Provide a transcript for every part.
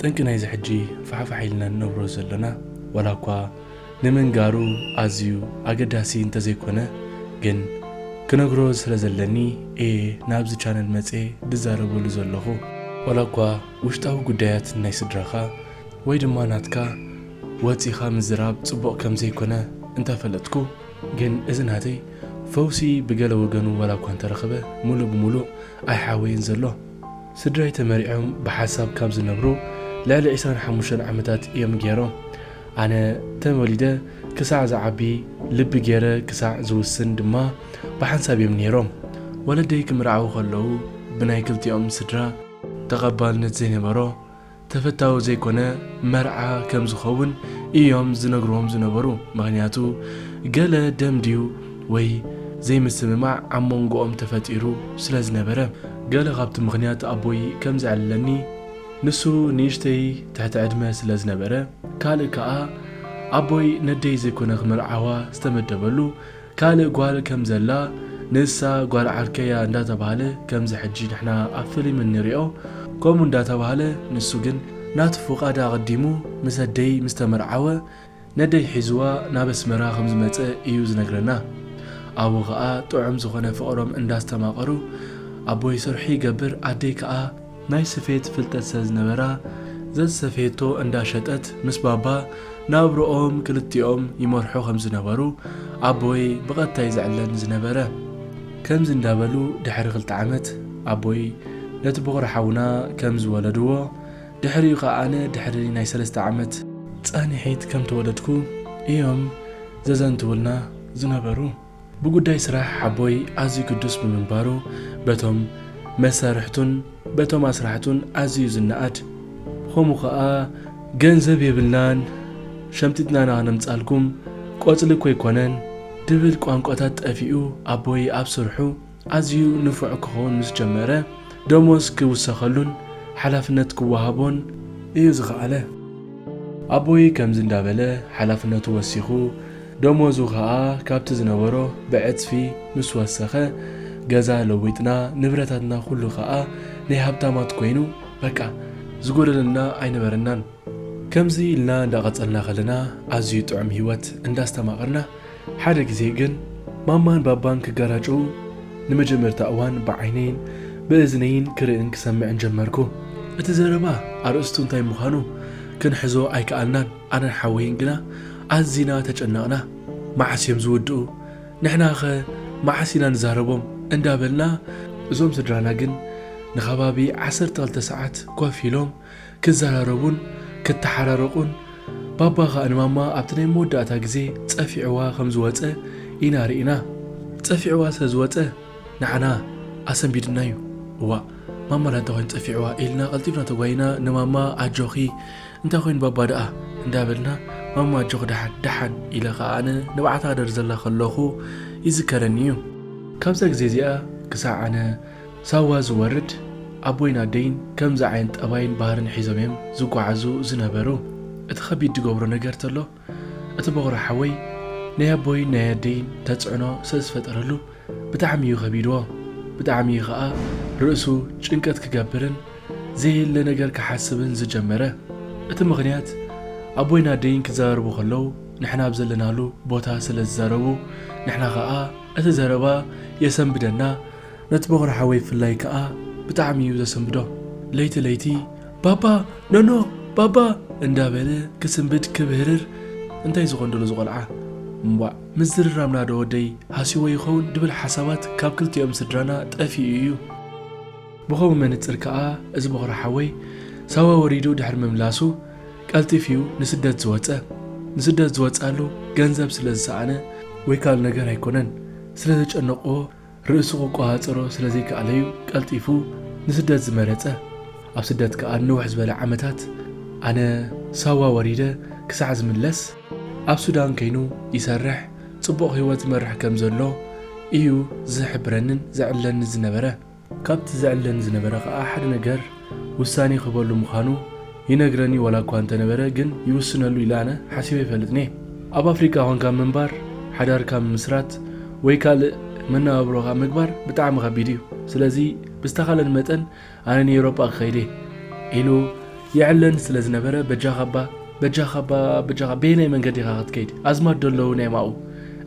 ጠንቂ ናይዚ ሕጂ ፋሕፋሕ ኢልና ንነብሮ ዘለና ዋላ እኳ ንምንጋሩ ኣዝዩ ኣገዳሲ እንተዘይኮነ ግን ክነግሮ ስለ ዘለኒ እየ ናብዚ ቻነል መፀ ድዛረበሉ ዘለኹ ዋላ እኳ ውሽጣዊ ጉዳያት ናይ ስድራኻ ወይ ድማ ናትካ ወፂኻ ምዝራብ ፅቡቕ ከምዘይኮነ እንተፈለጥኩ ግን እዚ ናተይ ፈውሲ ብገለ ወገኑ ዋላ እኳ እንተረኸበ ምሉእ ብምሉእ ኣይሓወየን ዘሎ። ስድራይ ተመሪዖም ብሓሳብ ካብ ዝነብሩ ልዕሊ ዕስራን ሓሙሽተን ዓመታት እዮም ገይሮም። ኣነ ተወሊደ ክሳዕ ዝዓቢ ልቢ ገይረ ክሳዕ ዝውስን ድማ ብሓንሳብ እዮም ነይሮም። ወለደይ ክምርዓዉ ከለዉ ብናይ ክልቲኦም ስድራ ተቐባልነት ዘይነበሮ ተፈታዊ ዘይኮነ መርዓ ከም ዝኸውን ኢዮም ዝነግርዎም ዝነበሩ ምኽንያቱ ገለ ደም ድዩ ወይ ዘይምስምማዕ ኣብ ሞንጎኦም ተፈጢሩ ስለ ዝነበረ። ገለ ካብቲ ምኽንያት ኣቦይ ከም ዘዕልለኒ ንሱ ንእሽተይ ትሕቲ ዕድመ ስለ ዝነበረ ካልእ ከኣ ኣቦይ ነደይ ዘይኮነ ክምርዓዋ ዝተመደበሉ ካልእ ጓል ከም ዘላ ንሳ ጓል ዓርከያ እንዳ ተባህለ ከምዚ ሕጂ ንሕና ኣብ ፍሊም እንሪኦ ከምኡ እንዳ ተባህለ ንሱ ግን ናቱ ፍቃድ ኣቀዲሙ ምስ ኣደይ ምስ ተመርዓወ ነደይ ሒዝዋ ናብ ኣስመራ ከም ዝመጸ ኢዩ ዝነግረና ኣብኡ ከኣ ጥዑም ዝኮነ ፍቅሮም እንዳ ኣስተማቀሩ ኣቦይ ሰርሑ ይገብር ኣደይ ከኣ ናይ ስፌት ፍልጠት ስለዝነበራ ዘዝሰፈየቶ እንዳሸጠት ምስ ባባ ናብርኦም ክልቲኦም ይመርሑ ከምዝነበሩ ኣቦይ ብቐጥታ እዩ ዝዕለም ዝነበረ። ከምዚ እንዳበሉ ድሕሪ ክልተ ዓመት ኣቦይ ነቲ ቦኽሪ ሓውና ከምዝወለድዎ ድሕሪኡ ከኣ ኣነ ድሕሪ ናይ ሰለስተ ዓመት። ጻኒሒት ከምተወለድኩ እዮም ዘዘንትውልና ዝነበሩ። ብጉዳይ ስራሕ ሓቦይ ኣዝዩ ግዱስ ብምንባሩ በቶም መሳርሕቱን በቶም ኣስራሕቱን ኣዝዩ ዝነኣድ፣ ብኸምኡ ከኣ ገንዘብ የብልናን ሸምጢጥና ኢና ክነምጽኣልኩም ቆጽሊ እኮ ኣይኮነን ድብል ቋንቋታት ጠፊኡ ኣቦይ ኣብ ስርሑ፣ ኣዝዩ ንፉዕ ክኸውን ምስ ጀመረ፣ ደሞዝ ክውሰኸሉን ሓላፍነት ክወሃቦን እዩ ዝኸኣለ። ኣቦይ ከምዚ እንዳበለ ሓላፍነቱ ወሲኹ፣ ደሞዙ ከኣ ካብቲ ዝነበሮ ብዕጽፊ ምስ ወሰኸ፣ ገዛ ለዊጥና፣ ንብረታትና ኩሉ ከኣ ናይ ሃብታማት ኮይኑ፣ በቃ ዝጎደለና ኣይነበረናን። ከምዚ ኢልና እንዳቐጸልና ከለና፣ ኣዝዩ ጥዑም ህይወት እንዳስተማቐርና ሓደ ግዜ ግን ማማን ባባን ክጋራጨዉ ንመጀመርታ እዋን ብዓይነይን ብእዝነይን ክርእን ክሰምዕን ጀመርኩ። እቲ ዘረባ ኣርእስቱ እንታይ ምዃኑ ክንሕዞ ኣይከኣልናን፣ ኣነን ሓወይን ግና ኣዚና ተጨነቕና። መዓስ እዮም ዝውድኡ? ንሕናኸ መዓስ ኢና ንዛረቦም? እንዳበልና። እዞም ስድራና ግን ንኸባቢ ዓሰርተ ክልተ ሰዓት ኮፍ ኢሎም ክዘራረቡን ክተሓራረቁን ባባ ከኣ ንማማ ኣብቲ ናይ መወዳእታ ግዜ ጸፊዕዋ ከም ዝወጸ ኢና ርኢና ጸፊዕዋ ስለ ዝወጸ ንዓና ኣሰንቢዱና እዩ እዋእ ማማ ዳንታ ኮይኑ ጸፊዕዋ ኢልና ቀልጢፍና ተጓይና ንማማ ኣጆኺ እንታይ ኮይኑ ባባ ደኣ እንዳበልና ማማ ኣጆኺ ደሓን ደሓን ኢለ ከኣ ኣነ ንብዓት ኣደር ዘላ ከለኹ ይዝከረኒ እዩ ካብዛ ግዜ እዚኣ ክሳዕ ኣነ ሳዋ ዝወርድ ኣቦይን ኣደይን ከምዚ ዓይነት ጠባይን ባህርን ሒዞም እዮም ዝጓዓዙ ዝነበሩ እቲ ከቢድ ድገብሮ ነገር ተሎ እቲ ቦኽሪ ሓወይ ናይ ኣቦይን ናይ ኣደይን ተጽዕኖ ስለዝፈጠረሉ ብጣዕሚ እዩ ከቢድዎ ብጣዕሚ እዩ ከኣ ርእሱ ጭንቀት ክገብርን ዘየለ ነገር ክሓስብን ዝጀመረ እቲ ምኽንያት ኣቦይን ኣደይን ክዛረቡ ከለው ንሕና ኣብ ዘለናሉ ቦታ ስለዝዛረቡ ንሕና ከኣ እቲ ዘረባ የሰንብደና ነቲ ቦኽሪ ሓወይ ብፍላይ ከኣ ብጣዕሚ እዩ ዘሰንብዶ። ለይቲ ለይቲ ባባ ኖኖ ባባ እንዳበለ ክስንብድ ክብህርር እንታይ ዝኾን ዶ ነዚ ቆልዓ እምቧእ ምዝርራምና ዶ ወደይ ሃስይዎ ይኸውን ድብል ሓሳባት ካብ ክልቲኦም ስድራና ጠፊኡ እዩ። ብኸምኡ መንጽር ከኣ እዚ ቦኽሪ ሓወይ ሳዋ ወሪዱ ድሕሪ ምምላሱ ቀልጢፍ እዩ ንስደት ዝወጸ። ንስደት ዝወጸኣሉ ገንዘብ ስለ ዝሰኣነ ወይ ካልእ ነገር ኣይኮነን ስለ ዘጨነቕዎ ርእሱ ክቆጻጸሮ ስለ ዘይከኣለ'ዩ ቀልጢፉ ንስደት ዝመረጸ። ኣብ ስደት ከኣ ንንውሕ ዝበለ ዓመታት፣ ኣነ ሳዋ ወሪደ ክሳዕ ዝምለስ ኣብ ሱዳን ከይኑ ይሰርሕ፣ ጽቡቕ ህይወት ዝመርሕ ከም ዘሎ ኢዩ ዝሕብረንን ዘዕልለንን ዝነበረ። ካብቲ ዘዕልለኒ ዝነበረ ከኣ ሓደ ነገር፣ ውሳኔ ክህበሉ ምዃኑ ይነግረኒ ዋላ እኳ እንተነበረ ግን ይውስነሉ ኢለ ኣነ ሓሲበ ኣይፈልጥን'የ። ኣብ ኣፍሪቃ ኮንካ ምንባር፣ ሓዳርካ ምምስራት ወይ ካልእ መነባብሮኻ ምግባር ብጣዕሚ ከቢድ'ዩ። ስለዚ ብዝተኻለን መጠን ኣነ ንኤውሮጳ ክኸይድ'የ ኢሉ የዕለን ስለ ዝነበረ በጃኻ'ባ በጃኻ'ባ በጃኻ በየናይ መንገዲ ኢኻ ክትከይድ ኣዝማድዶ ኣለዉ ናይ ማኡ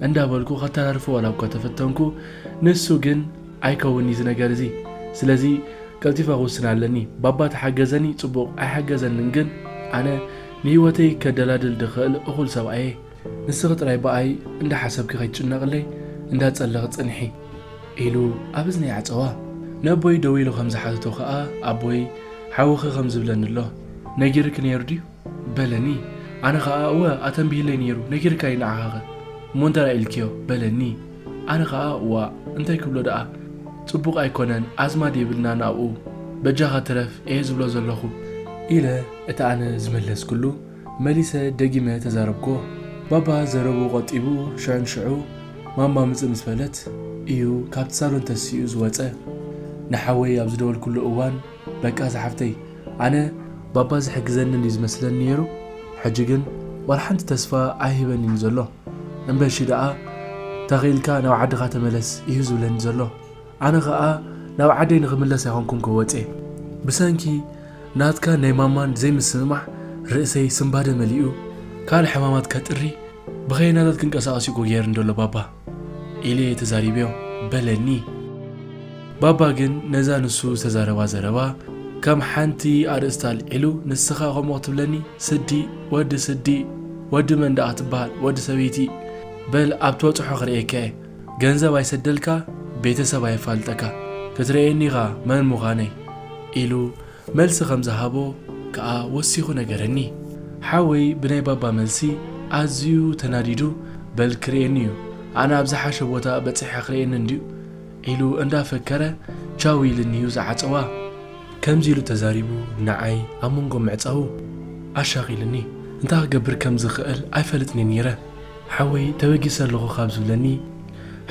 እንዳበልኩ ከተራርፎ ዋላ እኳ ተፈተንኩ ንሱ ግን ኣይከውን ኢዩ እዚ ነገር እዚ ስለዚ ቀልጢፈ ክውስን ኣለኒ ባባ ተሓገዘኒ ጽቡቅ ኣይሓገዘንን ግን ኣነ ንሂወተይ ከደላድል ድክእል እኩል ሰብኣይ እየ ንስኪ ጥራይ ብኣይ እንዳ ሓሰብኪ ከይትጭነቅለይ እንዳ ጸለኪ ጽንሒ ኢሉ ኣብ እዝነይ ዓጸዋ ነቦይ ደዊሉ ከም ዝሓተቶ ከኣ ኣቦይ ሓውኪ ከም ዝብለኒ ኣሎ ነጊርኪ ነይሩ ድዩ በለኒ ኣነ ከኣ እወ ኣተንቢህለይ ነይሩ ነጊርካ እዩ ንዓኻኸ እሞ እንተላይ ኢልክዮ በለኒ ኣነ ከኣ ዋእ እንታይ ክብሎ ደኣ ጽቡቅ ኣይኮነን ኣዝማድ የብልናን ኣብኡ በጃኻ ትረፍ እየ ዝብሎ ዘለኹ ኢለ እቲ ኣነ ዝመለስክሉ መሊሰ ደጊመ ተዛረብክዎ ባባ ዘረብኡ ቆጢቡ ሽዑንሽዑ ማማ ምጽእ ምስ በለት እዩ ካብቲ ሳሎን ተሲኡ ዝወጸ ንሓወይ ኣብ ዝደወልክሉ እዋን በቃ ዝሓፍተይ ኣነ ባባ ዝሕግዘንን እዩ ዝመስለኒ ነይሩ ሕጂ ግን ዋላ ሓንቲ ተስፋ ኣይህበንን እዩ ዘሎ እምበሺ ደኣ ተኺኢልካ ናብ ዓድኻ ተመለስ እዩ ዝብለኒ ዘሎ ኣነ ከኣ ናብ ዓደይ ንኽምለስ ኣይኮንኩን ክወጼ ብሰንኪ ናትካን ናይ ማማን ዘይምስምማዕ ርእሰይ ስንባደ መሊኡ ካልእ ሕማማት ከጥሪ ብኸየናታት ክንቀሳቐስ እዩ እኮ ገይርኒ ዘሎ ባባ ኢለ እየ ተዛሪበዮ በለኒ። ባባ ግን ነዛ ንሱ ዝተዛረባ ዘረባ ከም ሓንቲ ኣርእስቲ ኣልዒሉ ንስኻ ከምኡ ክትብለኒ ስዲ ወዲ ስዲ ወዲ መን ደኣ ትበሃል ወዲ ሰበይቲ በል ኣብ ትበጽሖ ክርእየካ እየ ገንዘብ ኣይሰደልካ ቤተሰብ ኣየፋልጠካ ክትርእየኒ ኢኻ መን ምዃነይ ኢሉ መልሲ ከም ዝሃቦ ከኣ ወሲኹ ነገረኒ። ሓወይ ብናይ ባባ መልሲ ኣዝዩ ተናዲዱ በል ክርእየኒ'ዩ፣ ኣነ ኣብ ዝሓሸ ቦታ በጺሐ ክርእየኒ እንድዩ ኢሉ እንዳፈከረ ቻው ኢሉኒ'ዩ ዝዓጸዋ። ከምዚ ኢሉ ተዛሪቡ ንዓይ ኣብ መንጎ ምዕጻዉ ኣሻቒሉኒ። እንታይ ክገብር ከም ዝኽእል ኣይፈልጥን'የ ኔረ። ሓወይ ተበጊሰ ኣለኹ ካብ ዝብለኒ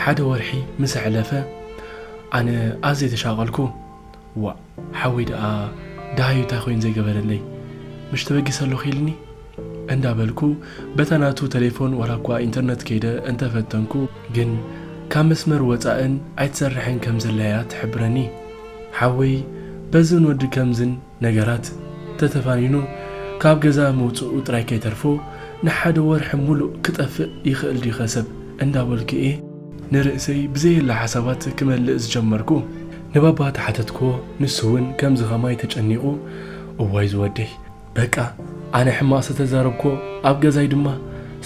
ሓደ ወርሒ ምስ ኣሕለፈ ኣነ ኣዝየ ተሻቐልኩ። ዋእ! ሓወይ ደኣ ደሃዩ እንታይ ኮይኑ ዘይገበረለይ ምሽ ተበጊሰ ኣለኹ ኢልኒ እንዳ በልኩ በታ ናቱ ተሌፎን ዋላ እኳ ኢንተርነት ከይደ እንተ ፈተንኩ ግን ካብ መስመር ወጻእን ኣይትሰርሕን ከም ዘላ እያ ትሕብረኒ ሓወይ በዝን ወዲ ከምዝን ነገራት ተተፋኒኑ ካብ ገዛ ምውጽኡ ጥራይ ከይተርፎ ንሓደ ወርሒ ሙሉእ ክጠፍእ ይኽእል ድዩኸ ሰብ እንዳ በልኩ እየ ንርእሰይ ብዘየለ ሓሳባት ክመልእ ዝጀመርኩ ንባባ ተሓተትክዎ ንሱ ውን ከምዚ ከማይ ተጨኒቁ እዋይ ዝወደይ በቃ ኣነ ሕማቅ ሰተዛረብክዎ ኣብ ገዛይ ድማ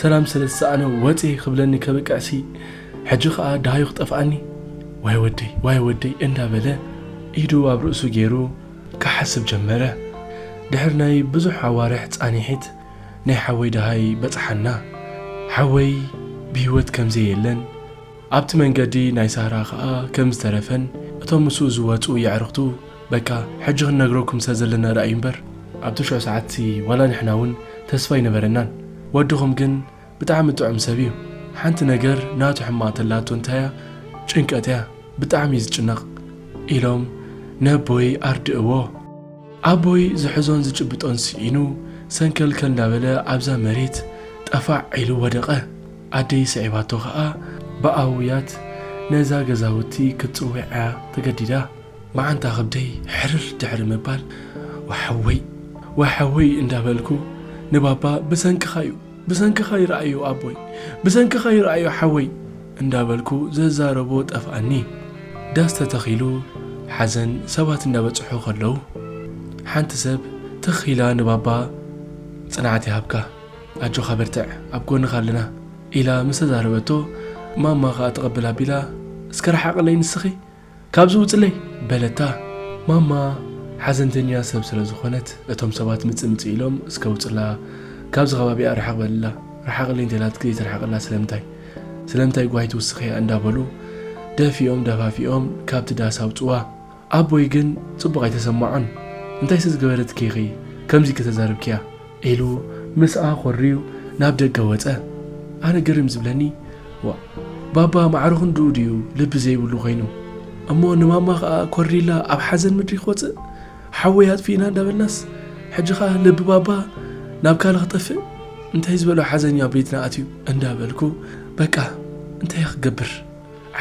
ሰላም ሰለ ዝሰኣነ ወጼ ክብለኒ ከብቅዕ ሲ ሕጂ ከኣ ደሃዩ ክጠፍኣኒ ዋይ ወደይ ዋይ ወደይ እንዳ በለ ኢዱ ኣብ ርእሱ ጌሩ ክሓስብ ጀመረ ድሕሪ ናይ ብዙሕ ኣዋርሕ ጻኒሒት ናይ ሓወይ ደሃይ በጽሓና ሓወይ ብሂወት ከምዘየለን ኣብቲ መንገዲ ናይ ሳራ ከኣ ከም ዝተረፈን እቶም ምስኡ ዝወጹ የዕርኽቱ በቃ ሕጂ ክንነግረኩም ስለ ዘለና ረኣዩ እምበር ኣብ ትሽዑ ሰዓትሲ ዋላ ንሕና ውን ተስፋ ኣይነበረናን ወድኹም ግን ብጣዕሚ ጥዑም ሰብ እዩ ሓንቲ ነገር ናቱ ሕማቅ ተላቶ እንታይ እያ ጭንቀት እያ ብጣዕሚ እዩ ዝጭነቅ ኢሎም ነቦይ ኣርድእዎ። ኣቦይ ዝሕዞን ዝጭብጦን ስኢኑ ሰንከልከል እንዳበለ ኣብዛ መሬት ጠፋዕ ኢሉ ወደቀ። ኣደይ ስዒባቶ ከኣ ብኣውያት ነዛ ገዛውቲ ክትጽውዕ'ያ ተገዲዳ። መዓንጣ ከብደይ ሕርር ድሕሪ ምባል ዋሕወይ ዋሕወይ እንዳበልኩ ንባባ ብሰንክኻ'ዩ ብሰንክኻ ይርኣዮ ኣቦይ ብሰንክኻ ይርኣዮ ሓወይ እንዳበልኩ ዝዛረቦ ጠፍኣኒ። ዳስ ተተኺሉ ሓዘን ሰባት እንዳበጽሑ ከለዉ ሓንቲ ሰብ ትኽ ኢላ ንባባ ጽንዓት ይሃብካ። ኣጆኻ በርትዕ ኣብ ጎንኻ ኣለና ኢላ ምስ ተዛረበቶ ማማ ከኣ ተቐብል ኣቢላ እስከ ርሓቕለይ ንስኺ ካብዚ ውጽለይ በለታ። ማማ ሓዘንተኛ ሰብ ስለ ዝኾነት እቶም ሰባት ምጽእ ምጽእ ኢሎም እስከ ውጽላ ካብዚ ከባቢኣ ርሕቕ በልላ ርሓቕለይ እንተኢላትኪ ዘይትርሕቕላ ስለምንታይ ስለምንታይ ጓሂ ትውስኽያ እንዳበሉ ደፊኦም ደፋፊኦም ካብቲ ዳስ ኣውጽዋ። ኣቦይ ግን ጽቡቕ ኣይተሰማዖን። እንታይሲ ዝገበረትኪ ኢኺ ከምዚ ከተዛርብኪያ? ኢሉ ምስኣ ኮርዩ ናብ ደገ ወጸ። ኣነ ግርም ዝብለኒ ዋእ ባባ ማዕረ ክንድኡ ድዩ ልቢ ዘይብሉ ኮይኑ? እሞ ንማማ ከኣ ኮርይላ ኣብ ሓዘን ምድሪ ክወጽእ? ሓወይ ኣጥፊእና እንዳበልናስ ሕጂ ከኣ ልቢ ባባ ናብ ካልእ ክጠፍእ? እንታይ ዝበሎ ሓዘንዩ ኣብ ቤትና ኣትዩ? እንዳበልኩ በቃ እንታይ'የ ክገብር?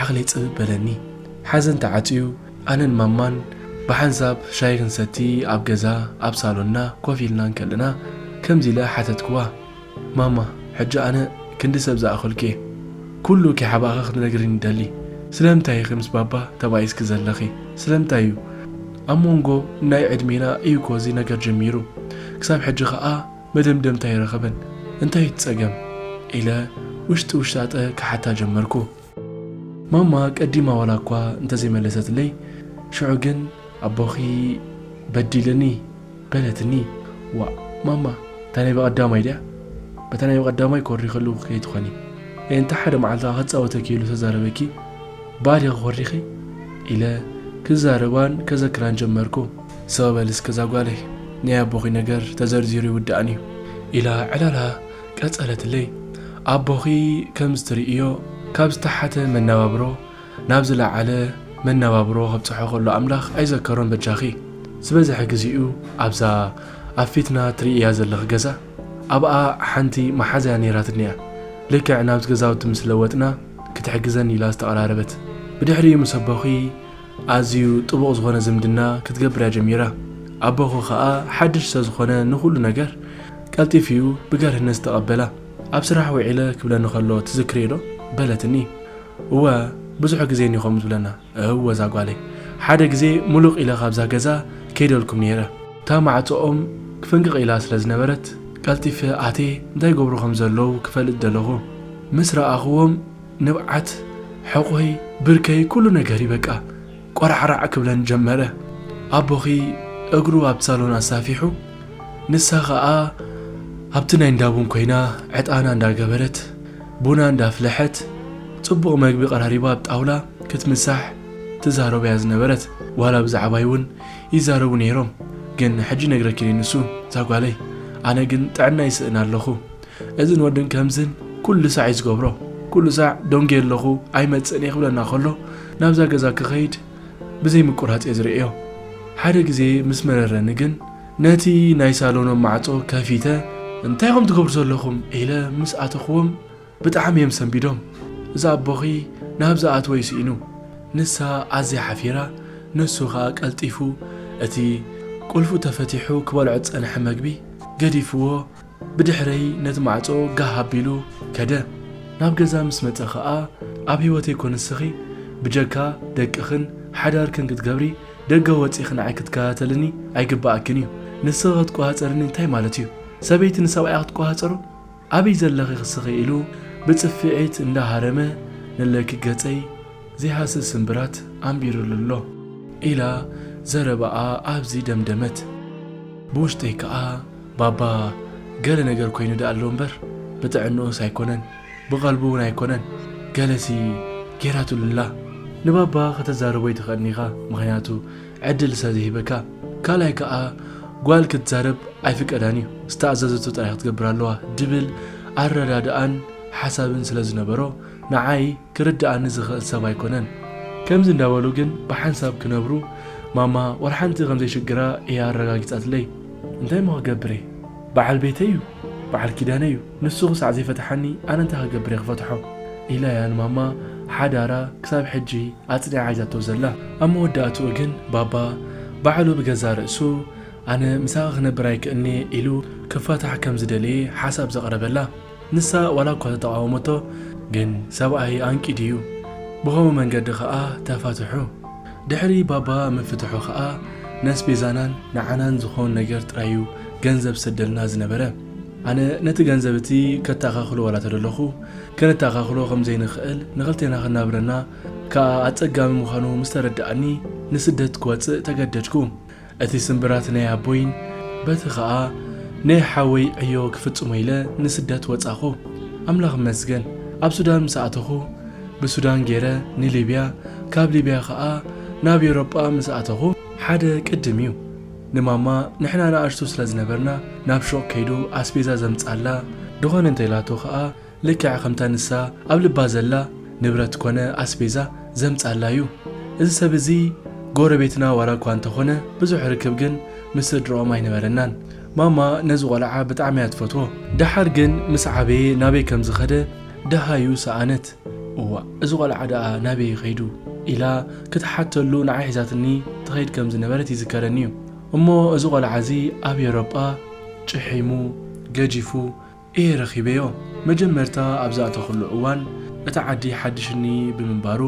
ዓቕለይ ጽብብ በለኒ። ሓዘን ተዓጽዩ ኣነን ማማን ብሓንሳብ ሻሂ ክንሰቲ ኣብ ገዛ ኣብ ሳሎንና ኮፍ ኢልና እንከለና ከምዚ ኢለ ሓተትክዋ፣ ማማ ሕጂ ኣነ ክንዲ ሰብ ዝኣኸልኩ'የ። ኩሉ ኪሓባእኺ ክትነግሪኒ እደሊ። ስለምንታይ ኢኺ ምስ ባባ ተባኢስኪ ዘለኺ? ስለምንታይ'ዩ? ኣብ ሞንጎ ናይ ዕድሜና እዩ'ኮ እዚ ነገር ጀሚሩ። ክሳብ ሕጂ ከኣ። መደምደምታ ኣይረኸበን። እንታይ እዩ እቲ ጸገም? ኢለ ውሽጢ ውሽጣጠ ክሓታ ጀመርኩ። ማማ ቀዲማ ዋላኳ እንተዘይመለሰትለይ፣ ሽዑ ግን ኣቦኺ በዲልኒ በለትኒ። ዋእ ማማ እታ ናይ ብቐዳማይ ድያ? በታ ናይ ብቐዳማይ ኮሪኸሉ ከይትኾኒ። እንተ ሓደ መዓልቲ ከኣ ክጻወተኪ ኢሉ ተዛረበኪ ባል ኢኺ ኮሪኺ? ኢለ ክዛረባን ከዘክራን ጀመርኩ። ሰው በል እስከ እዛ ጓለይ ናይ ኣቦኺ ነገር ተዘርዚሩ ይውዳእን እዩ። ኢላ ዕላላ ቀጸለትለይ። ኣቦኺ ከምዚ ትርእዮ ካብ ዝተሓተ መነባብሮ ናብ ዝለዓለ መነባብሮ ከብጽሖ ከሎ ኣምላኽ ኣይዘከሮን በጃኺ ዝበዝሐ ግዜኡ ኣብዛ ኣብ ፊትና ትርእያ ዘለኺ ገዛ ኣብኣ ሓንቲ መሓዛያ ነይራትኒ'ያ ልክዕ ናብቲ ገዛውቲ ምስ ለወጥና ክትሕግዘኒ ኢላ ዝተቐራረበት ብድሕሪኡ ምስ ኣቦኺ ኣዝዩ ጥቡቕ ዝኾነ ዝምድና ክትገብር እያ ጀሚራ። ኣቦኺ ከኣ ሓድሽ ስለ ዝኾነ ንኹሉ ነገር ቀልጢፉ እዩ ብገርህነት ዝተቐበላ። ኣብ ስራሕ ውዒለ ክብለኒ ከሎ ትዝክርዮዶ? በለትኒ። እወ ብዙሕ ግዜ እንዩ ከምኡ ዝብለና። እወ እዛ ጓለይ። ሓደ ግዜ ሙሉቕ ኢለ ካብዛ ገዛ ከይደልኩም ነይረ። እታ ማዕጾኦም ፍንቅቕ ኢላ ስለ ዝነበረት ቀልጢፈ ኣትየ እንታይ ይገብሩ ከም ዘለዉ ክፈልጥ ደለኹ። ምስ ረኣኹዎም ንብዓት፣ ሕቖይ፣ ብርከይ ኩሉ ነገርይ በቃ ቆራዕራዕ ክብለን ጀመረ። ኣቦኺ እግሩ ኣብ ሳሎን ኣሳፊሑ ንሳ ከኣ ኣብቲ ናይ እንዳ ቡን ኮይና ዕጣና እንዳ ገበረት ቡና እንዳ ኣፍለሐት ጽቡቕ መግቢ ቀራሪባ ኣብ ጣውላ ክትምሳሕ ትዛረቦ እያ ዝነበረት። ዋላ ብዛዕባይ እውን ይዛረቡ ነይሮም ግን ሕጂ ይነግረኪን እዩ ንሱ እዛ ጓለይ ኣነ ግን ጥዕናይ ይስእን ኣለኹ። እዝን ወድን ከምዝን ኩሉ ሳዕ እዩ ዝገብሮ ኩሉ ሳዕ ደንጉየ ኣለኹ ኣይመጽእን እየ ክብለና ከሎ ናብዛ ገዛ ክኸይድ ብዘይ ምቁራጽ እየ ዝርእዮ ሓደ ግዜ ምስ መረረኒ ግን ነቲ ናይ ሳሎኖም ማዕጾ ከፊተ እንታይ ኢኹም ትገብሩ ዘለኹም ኢለ ምስ ኣተኽዎም ብጣዕሚ እዮም ሰንቢዶም እዛ ኣቦኺ ናብ ዝኣትወ እዩ ስኢኑ ንሳ ኣዝያ ሓፊራ ንሱ ኸኣ ቀልጢፉ እቲ ቁልፉ ተፈቲሑ ክበልዖ ዝጸንሐ መግቢ ገዲፍዎ ብድሕረይ ነቲ ማዕጾ ጋህ ኣቢሉ ከደ። ናብ ገዛ ምስ መጸ ከኣ ኣብ ህይወተይ እኮ ንስኺ ብጀካ ደቅኽን ሓዳርክን ክትገብሪ ደገ ወጺእኺ ንዓይ ክትከታተልኒ ኣይግበኣክን እዩ። ንስኺ ክትቆጻጸርኒ እንታይ ማለት እዩ? ሰበይቲ ንሰብኣያ ክትቆጻጸሮ? ኣበይ ዘለኺ ክስኺ ኢሉ ብጽፍዒት እንዳ ሃረመ ንለኪ ገጸይ ዘይሃስስ ስምብራት ኣንቢሩሉ ኣሎ። ኢላ ዘረባኣ ኣብዚ ደምደመት። ብውሽጠይ ከኣ ባባ ገለ ነገር ኮይኑ ድኣ ኣሎ እምበር ብጥዕንኡስ ኣይኮነን ብቀልቡ ውን ኣይኮነን ገለሲ ጌራትሉ ኣላ ንባባ ከተዛርቦ ኣይትክእልን ኢካ ምክንያቱ ዕድል ስለ ዘይህበካ ካልኣይ ክኣ ጓል ክትዛረብ ኣይፍቀዳን እዩ ዝተኣዘዘቶ ጥራይ ክትገብር ኣለዋ ድብል ኣረዳድኣን ሓሳብን ስለ ዝነበሮ ንዓይ ክርድኣኒ ዝክእል ሰብ ኣይኮነን ከምዚ እንዳበሉ ግን ብሓንሳብ ክነብሩ ማማ ወላ ሓንቲ ከም ዘይሽግራ እያ ኣረጋጊጻትለይ። እንታይ እሞ ክገብር'የ በዓል ቤተይ እዩ በዓል ኪዳነይ እዩ ንሱ ክሳዕ ዘይፈትሓኒ ኣነ እንታይ ክገብር'የ ክፈትሖ ኢላ'ያ ንማማ ሓዳራ ክሳብ ሕጂ ኣጽኒዓ ሒዛቶ ዘላ ኣብ መወዳእትኡ ግን ባባ ባዕሉ ብገዛእ ርእሱ ኣነ ምሳኺ ክነብር ኣይክእልን'የ ኢሉ ክፋታሕ ከም ዝደለየ ሓሳብ ዘቕረበላ። ንሳ ዋላ እኳ ተተቓወመቶ ግን ሰብኣይ ኣንቂ ድዩ ብኸምኡ መንገዲ ከኣ ተፋትሑ። ድሕሪ ባባ ምፍትሑ ከኣ ነስቤዛናን ንዓናን ዝኾን ነገር ጥራዩ ገንዘብ ዝሰደልና ዝነበረ። ኣነ ነቲ ገንዘብ እቲ ከታኻኽሎ ዋላ ተደለኹ ከነታኻኽሎ ከም ዘይንኸእል ንኸልቴና ከናብረና ከኣ ኣጸጋሚ ምዃኑ ምስ ተረደኣኒ ንስደት ክወጽእ ተገደድኩ። እቲ ስምብራት ናይ ኣቦይን በቲ ከኣ ናይ ሓወይ ዕዮ ክፍጽሞ ኢለ ንስደት ወጻኹ ኣምላኽ ይመስገን ኣብ ሱዳን ምስ ኣተኹ ብሱዳን ጌረ ንሊብያ ካብ ሊብያ ከኣ ናብ ኤውሮጳ ምስ ኣተኹ ሓደ ቅድም እዩ ንማማ ንሕና ንኣሽቱ ስለ ዝነበርና ናብ ሹቕ ከይዱ ኣስቤዛ ዘምጻላ ድኾነ እንተ ኢላቶ ከኣ ልክዕ ከምታ ንሳ ኣብ ልባ ዘላ ንብረት ኮነ ኣስቤዛ ዘምጻላ እዩ። እዚ ሰብ እዚ ጎረቤትና ዋላ እኳ እንተኾነ ብዙሕ ርክብ ግን ምስ ስድርኦም ኣይነበረናን። ማማ ነዚ ቆልዓ ብጣዕሚ እያ ትፈትዎ። ደሓር ግን ምስ ዓበየ ናበይ ከም ዝኸደ ደሃዩ ሰኣነት። እዋእ እዚ ቆልዓ ደኣ ናበይ እዩ ከይዱ? ኢላ ክትሓተሉ ንዓይ ሒዛትኒ ትኸይድ ከም ዝነበረት ይዝከረኒ እዩ። እሞ እዚ ቆልዓ እዚ ኣብ ኤውሮጳ ጭሒሙ፣ ገጂፉ፣ እየ ረኺበዮ። መጀመርታ ኣብ ዝኣተኹሉ እዋን እቲ ዓዲ ሓድሽኒ ብምንባሩ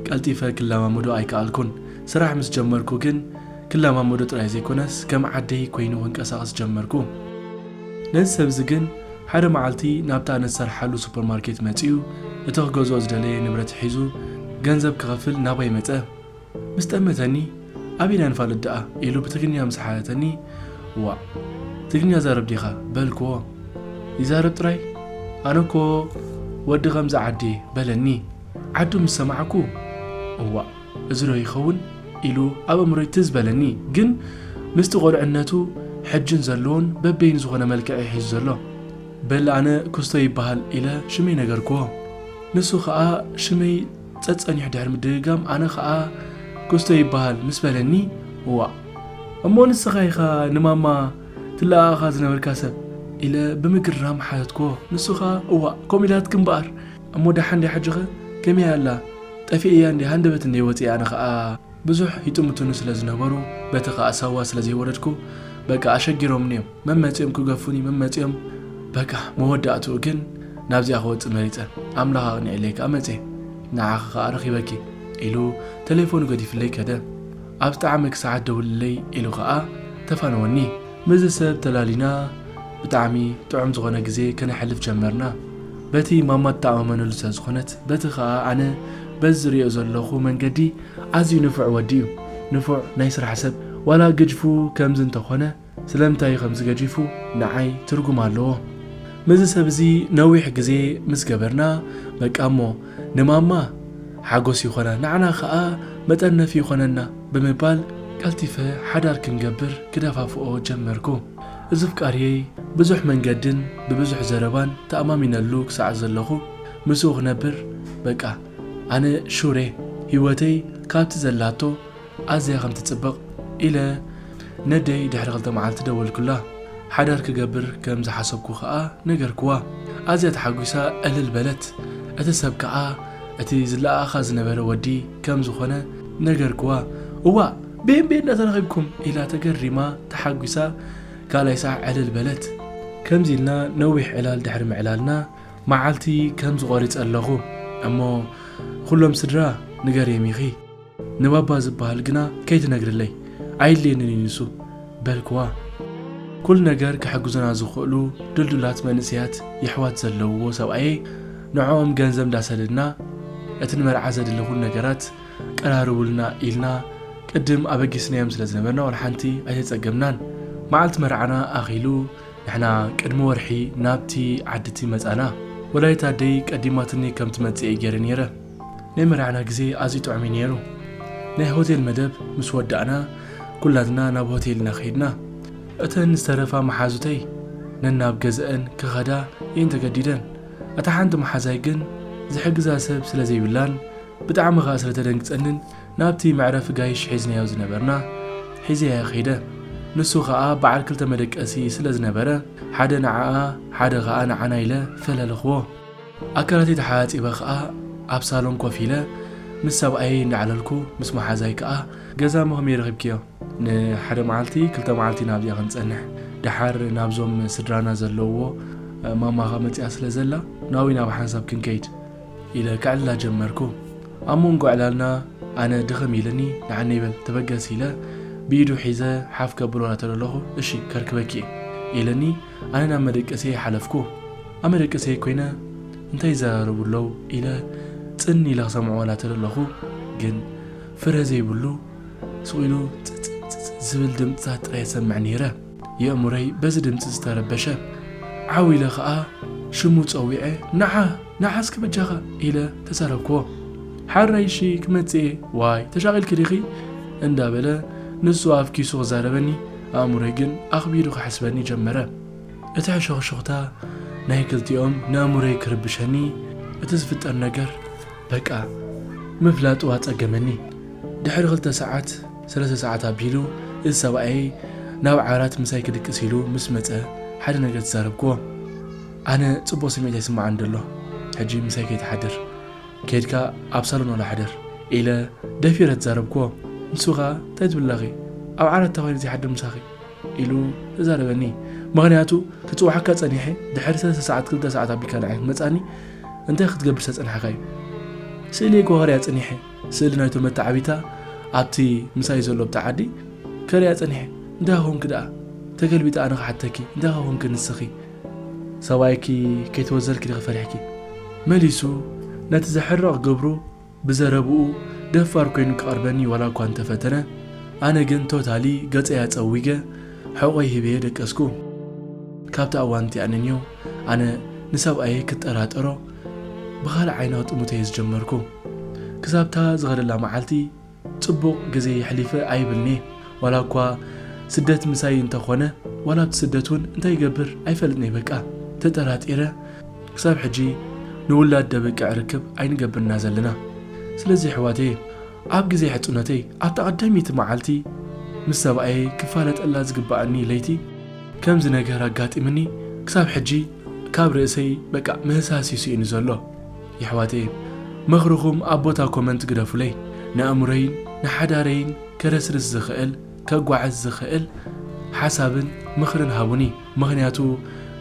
ቀልጢፈ ክለማመዶ ኣይከኣልኩን። ስራሕ ምስ ጀመርኩ ግን ክለማመዶ ጥራይ ዘይኮነስ ከም ዓደይ ኮይኑ ክንቀሳቐስ ጀመርኩ። ነዚ ሰብ'ዚ ግን ሓደ መዓልቲ ናብታ ንዝሰርሓሉ ሱፐርማርኬት መጺኡ እቲ ክገዝኦ ዝደለየ ንብረት ሒዙ ገንዘብ ክኸፍል ናባይ መጸ። ምስ ጠመተኒ ኣብ ኢና ንፋለጥ ደኣ ኢሉ ብትግርኛ ምስ ሓተተኒ ዋእ ትግርኛ ዛረብ ዲኻ በልክዎ ይዛረብ ጥራይ ኣነ እኮ ወዲ ከምዚ ዓዲየ በለኒ ዓዱ ምስ ሰማዕኩ እዋእ እዚ ዶ ይኸውን ኢሉ ኣብ ኣእምሮይ ትዝ በለኒ ግን ምስቲ ቆልዕነቱ ሕጅን ዘለዎን በበይኑ ዝኾነ መልክዕ እዩ ሒዙ ዘሎ በል ኣነ ኩስቶ ይበሃል ኢለ ሽመይ ነገርክዎ ንሱ ከኣ ሽመይ ጸጸኒሑ ድሕሪ ምድግጋም ኣነ ከኣ ክስቶ ይበሃል ምስ በለኒ እዋእ እሞ ንስኻ ኢኻ ንማማ ትለኣኣኻ ዝነበርካ ሰብ ኢለ ብምግራም ሓተትክዎ ንሱ ከኣ እዋእ ከምኡ ኢላትኪ እምበኣር እሞ ደሓን ድያ ሕጂኸ ከመይ ኣላ ጠፊኤያ እንዴ ሃንደበት እንዴ ወጺኣ ኣነ ከኣ ብዙሕ ይጥምቱኒ ስለ ዝነበሩ በቲ ከኣ ሳዋ ስለ ዘይወረድኩ በቃ ኣሸጊሮምኒ እዮም መመጺኦም ክገፉኒ መመጺኦም በቃ መወዳእትኡ ግን ናብዚኣ ክወጽእ መሪጸ ኣምላኽ ኣቕኒዕለይ ከኣ መጼ ንዓኺ ከኣ ረኺበኪ ኢሉ ተሌፎኑ ገዲፍለይ ከደ ኣብ ዝጠዓመኪ ሰዓት ደውልለይ ኢሉ ከኣ ተፋነወኒ። ምስዚ ሰብ ተላሊና ብጣዕሚ ጥዑም ዝኾነ ግዜ ከነሕልፍ ጀመርና በቲ ማማ ትተኣማመነሉ ስለ ዝኾነት በቲ ከኣ ኣነ በዚ ዝርእዮ ዘለኹ መንገዲ ኣዝዩ ንፉዕ ወዲ እዩ ንፉዕ ናይ ስራሕ ሰብ ዋላ ግጅፉ ከምዚ እንተኮነ ስለምንታይ እዩ ከምዚ ገጂፉ ንዓይ ትርጉም ኣለዎ ምዚ ሰብ እዚ ነዊሕ ግዜ ምስ ገበርና በቃ እሞ ንማማ ሓጎስ ይኮና ንዓና ከኣ መጠርነፊ ይኮነና ብምባል ቀልቲፈ ሓዳር ክንገብር ክደፋፍኦ ጀመርኩ እዙፍቃርየይ ብዙሕ መንገድን ብብዙሕ ዘረባን ተኣማሚነሉ ክሳዕ ዘለኩ ምስኡ ክነብር በቃ ኣነ ሹሬ ሂወተይ ካብቲ ዘላቶ ኣዝያ ከም ትጽብቕ ኢለ ነደይ ድሕሪ ክልተ መዓልቲ ደወልኩላ ሓዳር ክገብር ከም ዝሓሰብኩ ከኣ ነገርክዋ ኣዝያ ተሓጒሳ ዕልል በለት እቲ ሰብ ከኣ እቲ ዝለኣኣኻ ዝነበረ ወዲ ከም ዝኾነ ነገርክዋ እዋእ ቤን ቤን ዶ ተረኺብኩም ኢላ ተገሪማ ተሓጒሳ ካልኣይ ሳዕ ዕልል በለት ከምዚ ኢልና ነዊሕ ዕላል ድሕሪ ምዕላልና መዓልቲ ከምዚ ቆሪጸ ኣለኹ እሞ ንኹሎም ስድራ ንገርዬም ኢኺ ንባባ ዝብሃል ግና ከይትነግርለይ ኣይድልየንን እዩ ንሱ በልክዋ። ኩሉ ነገር ክሕግዙና ዝኽእሉ ድልዱላት መንእሰያት የሕዋት ዘለውዎ ሰብኣየይ ንዕኦም ገንዘብ እንዳሰደድና እቲ ንመርዓ ዘድሊ ኩሉ ነገራት ቀራርቡልና ኢልና ቅድም ኣበጊስናዮም ስለ ዝነበርና ዋላ ሓንቲ ኣይተጸገምናን መዓልቲ መርዓና ኣኺሉ ንሕና ቅድሚ ወርሒ ናብቲ ዓድቲ መጻና። ወላዲት ኣደይ ቀዲማትኒ ከም ትመጽእ እየ ገይረ ነይረ። ናይ መርዓና ግዜ ኣዝዩ ጥዑም እዩ ነይሩ። ናይ ሆቴል መደብ ምስ ወዳእና ኩላትና ናብ ሆቴል ኢና ከይድና። እተን ዝተረፋ መሓዙተይ ነናብ ገዘኣን ክኸዳ እየን ተገዲደን። እታ ሓንቲ መሓዛይ ግን ዝሕግዛ ሰብ ስለ ዘይብላን ብጣዕሚ ከኣ ስለ ተደንግጸንን ናብቲ መዕረፊ ጋይሽ ሒዝናዮ ዝነበርና ሒዘያዮ ከይደ። ንሱ ከኣ በዓል ክልተ መደቀሲ ስለ ዝነበረ ሓደ ንዓኣ ሓደ ከኣ ንዓና ኢለ ፈለልኽዎ። ኣካላተይ ተሓጺበ ከኣ ኣብ ሳሎን ኮፍ ኢለ ምስ ሰብኣየይ እናዕለልኩ ምስ መሓዛይ ከኣ ገዛሞ ከመይ ረኺብክዮ? ንሓደ መዓልቲ ክልተ መዓልቲ ኢና ኣብዚኣ ክንጸንሕ። ደሓር ናብዞም ስድራና ዘለውዎ ማማኻ መጺኣ ስለ ዘላ ናብይ ናብ ሓንሳብ ክንከይድ። ኢለ ክዕላ ጀመርኩ። ኣብ መንጎ ዕላልና ኣነ ድኽም ኢልኒ ንዓነይ በል ተበገስ ኢለ ብኢዱ ሒዘ ሓፍ ከብሎ ናተለለኹ እሺ ከርክበኪ'የ ኢልኒ ኣነ ናብ መደቀሲየይ ሓለፍኩ። ኣብ መደቀሲየይ ኮይነ እንታይ ይዘራረቡ ኣለው ኢለ ጽን ኢለ ክሰምዖ ናተለለኹ ግን ፍረ ዘይብሉ ስቕ ኢሉ ጽጽጽጽ ዝብል ድምጽታት ጥራይ እሰምዕ ነይረ። የእምሮይ በዚ ድምጺ ዝተረበሸ። ዓው ኢለ ከኣ ሽሙ ጸዊዐ ንዓ! ንዓ እስከ በጃኻ! ኢለ ተዛረብክዎ። ሓራይ እሺ ክመጽእ እየ። ዋይ ተሻቒልኪ ዲኺ? እንዳበለ ንሱ ኣብ ኪሱ ክዛረበኒ ኣእምሮይ ግን ኣኽቢዱ ክሕስበኒ ጀመረ። እቲ ሕሹኽሹኽታ ናይ ክልቲኦም ንኣእምሮይ ክርብሸኒ እቲ ዝፍጠር ነገር በቃ ምፍላጡ ኣጸገመኒ። ድሕሪ ክልተ ሰዓት። ሰለስተ ሰዓት ኣቢሉ እዚ ሰብኣየይ ናብ ዓራት ምሳይ ክድቅስ ኢሉ ምስ መጸ ሓደ ነገር ተዛረብክዎ። ኣነ ጽቡቕ ስምዒት ኣይስመዓንን ደሎ ሕጂ ምሳይ ከይትሓድር ኬድካ ኣብ ሳሎን ዋላ ሕደር ኢለ ደፊረ ተዛረብክዎ። ንሱ ከኣ ታይ ትብሊ ኣለኺ ኣብ ዓራት እንታይ ኮይነ ዘይሓድር ምሳኺ ኢሉ ተዛረበኒ። ምኽንያቱ ክጽውዓካ ጸኒሐ ድሕሪ ሰለስተ ሰዓት ክልተ ሰዓት ኣቢልካ ንዓይ ክትመጽኣኒ እንታይ ክትገብር ስለ ዝጸናሕካዩ ስእለይ ጎሃርያ ጸኒሐ። ስእሊ ናይቶም መተዓቢታ ኣብቲ ምሳይ ዘሎ ብተዓዲ ከርእያ ጸኒሐ። እንታይ ኾንኪ ደኣ? ተገልቢጠ ኣነ ክሓተኪ፣ እንታይ ኾንኪ ንስኺ? ሰብኣይኪ ከይተወዘልኪ ዲኺ ፈሪሕኪ? መሊሱ ነቲ ዘሕርቕ ግብሩ ብዘረብኡ ደፋር ኮይኑ ክቐርበኒ ዋላ እኳ እንተፈተነ፣ ኣነ ግን ቶታሊ ገጸይ ኣጸዊገ ሕቖይ ሂበዮ ደቀስኩ። ካብታ እዋን እቲኣ ንንዮ፣ ኣነ ንሰብኣየይ ክጠራጠሮ ብኻልእ ዓይና ጥሙተየ ዝጀመርኩ። ክሳብታ ዝኸደላ መዓልቲ ጽቡቕ ግዜ የሕሊፈ ኣይብልን'የ። ዋላኳ ስደት ምሳይ እንተ ኾነ ዋላ ኣብቲ ስደት'ውን እንታይ ይገብር ኣይፈልጥን'የ በቃ ተጠራጢረ ክሳብ ሕጂ ንውላድ ደበቅዕ ርክብ ኣይንገብርን እና ዘለና። ስለዚ የሕዋተየ ኣብ ግዜ ሕጹነተይ ኣብታ ቀዳመይቲ መዓልቲ ምስ ሰብኣየይ ክፋለጠላ ዝግበኣኒ ለይቲ፣ ከምዚ ነገር ኣጋጢምኒ ክሳብ ሕጂ ካብ ርእሰይ በቃ ምህሳስ እዩ ስኢኑ ዘሎ የሕዋተይን ምኽርኹም ኣብ ቦታ ኮመንት ግደፉለይ ንኣእምሮይን ንሓዳረይን ከረስርስ ዝኽእል ከጓዕዝ ዝኽእል ሓሳብን ምኽርን ሃቡኒ ምኽንያቱ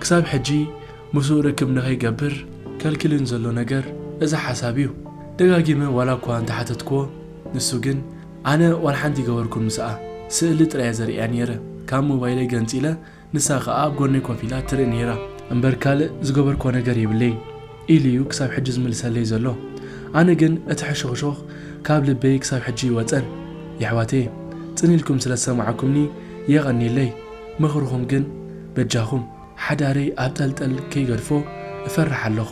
ክሳብ ሕጂ ምስኡ ርክብ ንኸይገብር ከልክልን ዘሎ ነገር እዚ ሓሳብ እዩ ደጋጊመ ዋላ እኳ እንተሓተትክዎ ንሱ ግን። ኣነ ዋልሓንቲ ይገበርኩም ምስኣ ስእሊ ጥራይ እየ ዘርእያ ኔረ ካብ ሞባይለይ ገንጺለ ንሳ ክኣ ኣብ ጎነይ ኮፍ ኢላ ትርኢ ኔራ እምበር ካልእ ዝገበርክዎ ነገር የብለይን ኢሉ እዩ ክሳብ ሕጂ ዝምልሰለይ ዘሎ ኣነ ግን እቲ ሕሹኽሹኽ ካብ ልበይ ክሳብ ሕጂ እይወጸን የሕዋተየ ጽን ኢልኩም ስለ ዝሰማዕኩምኒ የቀንየለይ ምኽርኹም ግን በጃኹም ሓዳረይ ኣብ ጠልጠል ከይገድፎ እፈርሕ ኣለኹ።